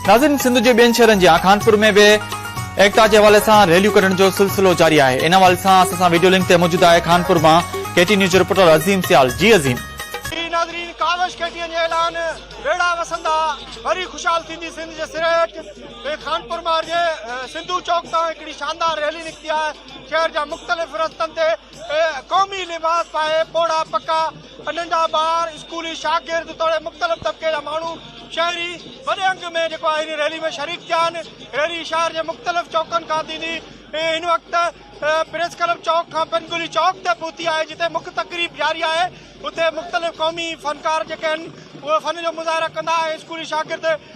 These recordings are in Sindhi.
ناظرين سنڌ جي ٻين شهرن جيان خانپور ۾ به ايڪتا جي حوالي سان ريليون ڪڍڻ جو سلسلو جاري آهي ان حوالي سان اسان سان ويڊيو لنڪ تي موجود آهي خانپور مان ڪي ٽي نيوز جو رپورٽر عظيم سيال جي عظيم ناظرين ڪاوش ڪي ٽي اين جي اعلان ويڙها وسندا وري خوشحال ٿيندي سنڌ جي سريٽ ۽ خانپور مان جي سنڌو چوڪ تان هڪڙي شاندار ريلي نڪتي آهي شهر جا مختلف رستن تي قومي لباس پائي پوڙها پڪا ننڍا ٻار، اسڪولي شاگرد توڙي مختلف طبقي جا ماڻهو شهري وڏي انگ ۾ جيڪو آهي هن ريلي ۾ شريڪ ٿيا آهن. ريلي شهر جي مختلف چوڪن کان ٿيندي هن وقت پريس ڪلب چوڪ کان پن گلي چوڪ تي پهتي آهي جتي مک تقريب جاري آهي اتي مختلف قومي فنڪار جيڪي آهن اهي فن جو مظاهرا ڪندا ۽ اسڪولي شاگرد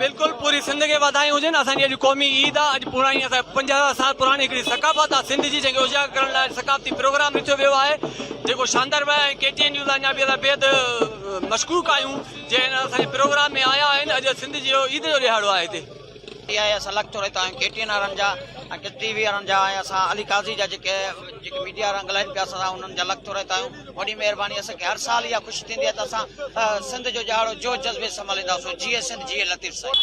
بلڪل پوري سنڌ کي واڌايون هجن اسان جي اڄ قومي عيد آ اڄ پراڻي اسان جي پنج هزار سال پراڻي هڪڙي ثقافت آ سنڌ جي جنهن کي اجاگر ڪرڻ لاء ثقافتي پروگرام رٿيو ويو آهي جيڪو شاندار ويا ۽ ڪي ٽي اين نيوز لاء اڃا به اسان بيحد مشڪوڪ آهيون جي هن اسان جي پروگرام ۾ آيا آهن اڄ سنڌ جي اهو عيد جو ڏهاڙو آهي هتي ٽي آء اسان لکتو رهتا آهيون ڪي ٽي اين وارن جا ٽي وي وارن جا ۽ اسان علي قاضي جا جيڪي جيڪي ميڊيا وارا ڳالهائين پيا اسان انهن جا لکتو رهتا آهيون وڏي مهرباني اسان کي هر سال اها خوشي ٿيندي آهي ته اسان سنڌ جو ڄاڙو جوش جذبي سان ملهنداسون جيئي سنڌ جيئي لطيف سائين.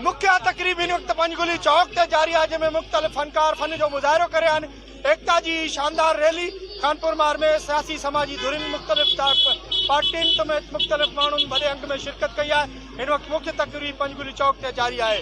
مکيه تقريب هن وقت پنجگلي چوڪ تي جاري آهي جنهن ۾ مختلف فنڪار فن جو مظاهرو ڪري رهيا آهن ايڪتا جي هي شاندار ريلي خانپور مار ۾ سياسي سماجي ڌرين مختلف پارٽين سميت مختلف ماڻهن وڏي انگ ۾ شرڪت ڪئي آهي هن وقت مکيه تقريب پنجگلي چوڪ تي جاري آهي.